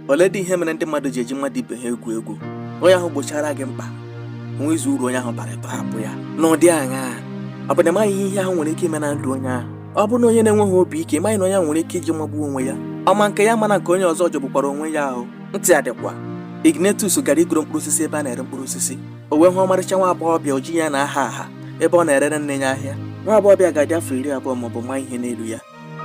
Oleedị ihe mere ndị mmadụ ji eji mmadụ ibe ha egwu egwu onye ahụ gbochara gị mkpa nwezu uru onye ahụ bara ị tọhapụ ya n'ụdị aṅaa ọ bụ na ịmaghị ihe ihe ahụ nwere ike ime na ndụ onye ahụ ọ bụrụ na onye na-enweghị obi ike ịmaghị na onye ahụ nwere ike iji magbuo onwe ya ọ ma nke ya mana nke onye ọzọ jọgbukwara onwe ya ahụ ntị adịkwa Ignatius gara igoro mkpụrụ osisi ebe a na-ere mkpụrụ osisi o wee hụ ọmarịcha nwa agbọghọbịa oji ya na-aha aha ebe ọ na-erere nne ya ahịa nwa agbọghọbịa ga-adị afọ iri abụọ maọbụ ma ihe n'elu ya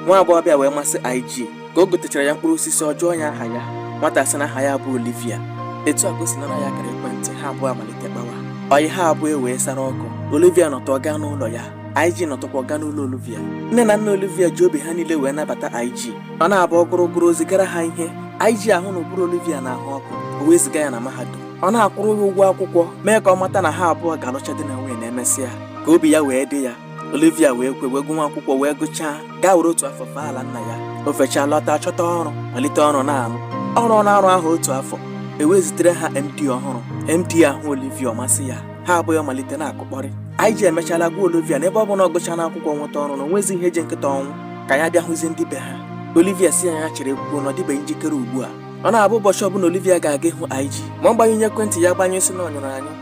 nwa agbọghọbịa wee masị IG ka o gotechara ya mkpụrụ osisi ọ jụọ ya aha ya nwata asị na aha ya bụ Olivia etu a ka o si naa ya akara ekwentị ha abụọ amalite kpawa ọyị ha abụọ ewee sara ọkụ Olivia nọtụ gaa n'ụlọ ya IG nọtụkwa gaa n'ụlọ Olivia nne na nna Olivia ji obi ha niile wee nabata IG ọ na-abụ ọ gụrụ gụrụ o zigara ha ihe IG ahụ na ụbụrụ Olivia na-ahụ ọkụ o wee ziga ya na mahadum ọ na-akwụrụ ya ụgwọ akwụkwọ mee ka ọ mata na ha abụọ ga-alụcha di na nwunye na emesịa ka obi ya wee dị ya Olivia wee kwe wee gụwa akwụkwọ wee gụchaa gaa were otu afọ fee ala nna ya o fechaa lọta chọta ọrụ malite ọrụ na-arụ ọrụ na-arụ ahụ otu afọ ewee zitere ha MD ọhụrụ MD ahụ Olivia ọ masị ya ha abụọ amalite na-akụkpọrị IG emechala gwa Olivia na ebe ọ bụ na ọ gụchaana akwụkwọ nweta ọrụ na o nwezi ihe ji nkịta ọnwụ ka ya bịa hụzie ndị be ha Olivia sị ya ya cherekwuo na ọ dịbeghị njikere ugbu a ọ na-abụ ụbọchị ọbụla Olivia ga-aga ịhụ IG ma ọ gbanyụghị ekwentị ya agbanyụ sị na ọ nyụrụ anyụ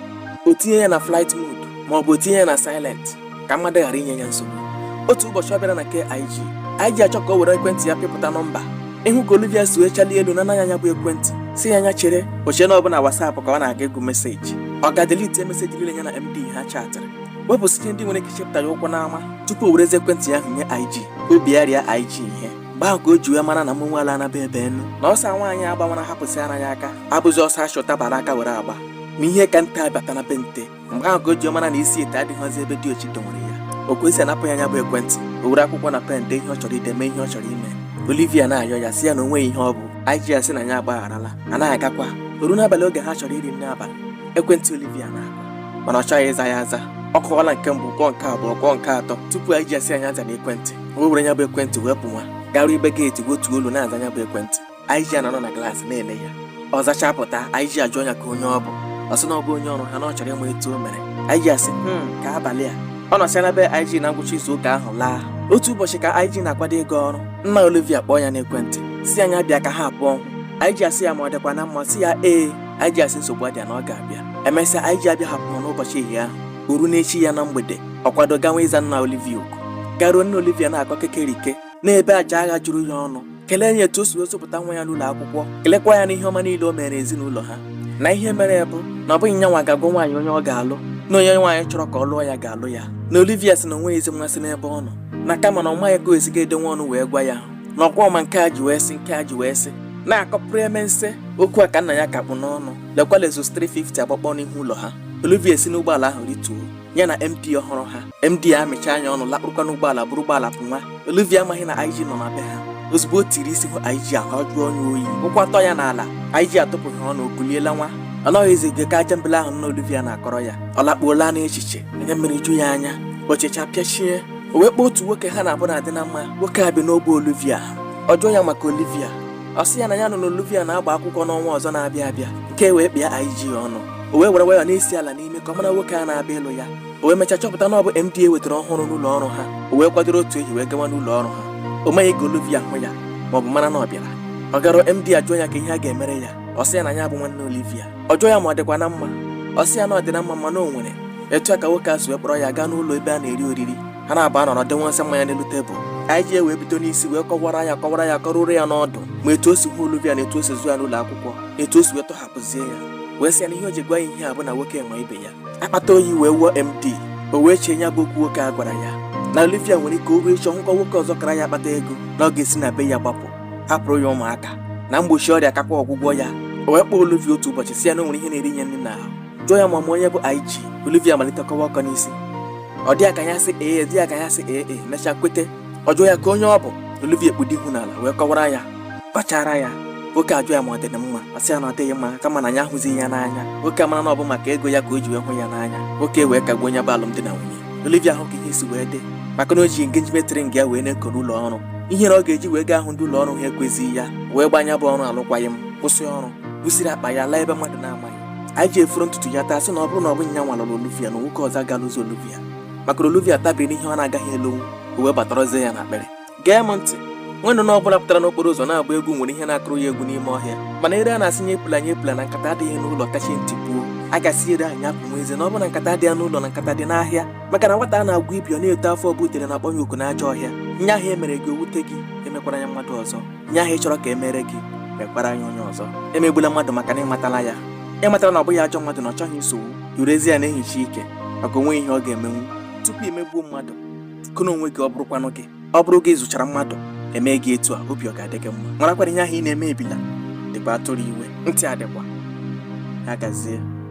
o tinye ya na flight mode ma ọ bụ o tinye ya na silent ka mmadụ ghara inye ya nsogbu otu ụbọchị ọ bịara na nke IG IG achọ ka o were ekwentị ya pịpụta nọmba ị hụ ka Olivia si wee chalie elu naa ya ya bụ ekwentị sị ya ya chere o chee na ọ bụ na WhatsApp ka ọ na-aga ịgụ meseji ọ gaa delete meseji niile ya na MD ha chatịrị wepụsịcha ndị nwere ike ichepụta ya ụkwụ n'ama tupu o werezi ekwentị ya ahụ nye IG obi ya rịa IG ihe mgbe ahụ ka o ji wee mara na mụ nwaala anaba ebe enu na ọsọ nwaanyị gbawara hapụsị ara ya aka abụzi ọsọ achụ tabara aka were agba na ihe ka nte abata na be nte mgbe ahụ ka o ji mara na isi ite adịghịzi ebe diochi dọwere ya ọ kwụsị ịnapụ ya ya bụ ekwentị o were akwụkwọ na pen dee ihe ọ chọrọ ide mee ihe ọ chọrọ ime Olivia na-ayọ ya sị ya na o nweghị ihe ọ bụ IG asị na ya agbagharala ya na-agakwa o ruo n'abalị oge ha chọrọ iri nri abalị ekwentị Olivia na-akụ mana ọ chọghị ịza ya aza ọ kụọla nke mbụ kụọ nke abụọ kụọ nke atọ tupu IG asị ya zaanụ ekwentị o were ya bụ ekwentị wee pụwa garuo ebe geeti wetuo olu na-aza ya bụ ekwentị IG anọ na glaasị na-ele ya ọ zachaa pụta IG ajụọ ya ka onye ọ bụ ọ sị na ọ bụ onye ọrụ ha na ọ chọrọ ịma etu o mere IG asị "Hmm, ka abalị a ọ nọsịa na be IG na ngwụcha izu ụka ahụ laa otu ụbọchị ka IG na-akwado ịga ọrụ nna Olivia kpọọ ya n'ekwentị sị ya bịa ka ha abụọ hụ IG asị ya ma ọ dịkwa na mma sị ya ee IG asị nsogbu adịa na ọ ga-abịa emesịa IG abịa hapụ n'ụbọchị ehihie ahụ o ruo n'echi ya na mgbede ọ kwado gawa ịza nna Olivia oku garuo nna Olivia na-akọ kekerike na-ebe aja agha juru ya ọnụ kelee ya etu o si wee zụpụta nwa ya n'ụlọ akwụkwọ kelekwa ya n'ihe ọma niile o mere ezinụlọ ha na ihe mere bụ na ọ bụghị nyanwa ga-agwa nwaanyị onye ọ ga-alụ na onye nwaanyị chọrọ ka ọ lụọ ya ga-alụ ya na Olivia sị na o nweghịzi mmasị n'ebe ọ nọ na kama na ọ maghị ka o si ga-edenwe ọnụ wee gwa ya na ọkwa ọ ma nke e ji wee sị nke e ji wee sị na-akọpụrụ eme nse okwu a ka nna ya ka kpụ n'ọnụ lekwala Lexus 350 agbakpọ n'ihu ụlọ ha Olivia esi n'ụgbọala ahụ rituo ya na MD ọhụrụ ha MD amịchaa ya ọnụ lakpụrụkwa n'ụgbọala buru ụgbọala pụnwa Olivia amaghị na IG nọ na be ha ozugbo o tiri isi hụ IG ahụ ajụọ ya oyi ụkwụ atọ ya n'ala IG atụpụghị ọnụ o kulie lanwa ọ naghịzi ege ka aja mbele ahụ nna Olivia na-akọrọ ya ọ lakpuola n'echiche anya mmiri eju ya anya o chechaa pịachie o wee kpọọ otu nwoke ha naabọ na-adị na mma nwoke a bi n'ogbe Olivia ọ jụọ ya maka Olivia ọ sị ya na ya nụ na Olivia na-agba akwụkwọ n'ọnwa ọzọ na-abịa abịa nke a wee kpịa IG ọnụ o wee were wayọ na-esi ala n'imi ka ọ mara nwoke a na-abịa ịlụ ya o wee mechaa chọpụta na ọ bụ MD e wetara ọhụrụ n'ụlọ ọrụ ha o wee kwadoro otu ehi wee gawa n'ụlọ ọrụ ha o meghị ka Olivia hụ ya ma ọ bụ mara na ọ bịara ọ gara MD ajụọ ya ka ihe a ga-emere ya ọ sị ya na ya bụ nwanne Olivia ọ jụọ ya ma ọ dịkwa na mma ọ sị ya na ọ dị na mma mana o nwere etu a ka nwoke a si wee kpọrọ ya gaa n'ụlọ ebe a na-eri oriri ha naabọ anọrọ denwasị mmanya n'elu tebụl IG wee bido n'isi wee kọwara ya kọwara ya kọruoro ya n'ọdụ ma etu o si hụ Olivia na etu o si zụọ ya n'ụlọ akwụkwọ na etu o si wee tọhapụzie ya wee sị ya na ihe o ji gwa ya ihe a bụ na nwoke nwe ibe ya akpata oyi wee wuo MD o wee chee ya bụ okwu nwoke a gwara ya na Olivia nwere ike o ruo echi ọ hụkwa nwoke ọzọ kara ya akpata ego na ọ ga-esi na be ya gbapụ hapụrụ ya ụmụaka na mgbochi ọrịa kakwa ọgwụgwọ ya o wee kpọọ Olivia otu ụbọchị sị ya na o nwere ihe na-eri ya nri n'ahụ jụọ ya ma ọ ma onye bụ IG Olivia malite kọwa ọkọ n'isi ọ dị ya ka ya sị ee dị ya ka ya sị ee e, mechaa kwete ọ jụọ ya ka onye ọ bụ Olivia ekpudo ihu n'ala wee kọwara ya kpachara ya nwoke ajụọ ya ma ọ dị mma ọ sị ya na ọ dịghị mma kama na ya ahụzighị ya n'anya nwoke amara na ọ bụ maka ego ya ka o ji wee hụ ya n'anya nwoke wee kagbuo ya bụ alụmdi na nwunye Olivia ahụ ka ihe si wee dị maka na o ji engagement ring ya wee na-eko n'ụlọ ọrụ ihere ọ ga-eji wee gaa hụ ndị ụlọ ọrụ ha ekwezighị ya wee gba ya bụ ọrụ arụkwaghị m kwụsị ọrụ busiri akpa ya laa ebe mmadụ na-amaghị IG efooro ntutu ya taa sị na ọ bụrụ na ọ bụghị ya nwa lụrụ Olivia na nwoke ọzọ agaghị alụzi Olivia maka na Olivia tabiri ihe ọ na-agaghị elonwu o wee batarazie ya n'akpịrị gee m ntị nwa nnụnụ ọbụla pụtara n'okporo ụzọ na-agba egwu nwere ihe na-akụrụ ya egwu n'ime ọhịa mana ere a na-asị nya epula nya epula na nkata adịghị n'ụlọ kachie ntị puo a ga-asị ere ahụ nya punwezie na ọ bụrụ na nkata adịghị n'ụlọ na nkata dị n'ahịa maka na nwata a na-agwọ ibi ọ na-eto afọ ọ bụ udele na-akpọ ya oku n'ajọ ọhịa ihe ahụ e mere gị o wute gị emekwala ya mmadụ ọzọ ihe ahụ ị chọrọ ka e mere gị mekwara ya onye ọzọ emegbula mmadụ maka na ị matala ya ị matala na ọ bụghị ajọ mmadụ na ọ chọghị nsogbu i werezie ya na-ehicha ike maka o nweghị ihe ọ ga-emenwu tupu i megbuo mmadụ kụna onwe gị ọ bụrụkwanụ gị ọ bụrụ gị zụchara mmadụ e mee gị etu a obi ọ ga-adị gị mma marakwara ihe ahụ ị na-eme ebila dịkwa atụrụ iwe ntị adịkwa ya gazie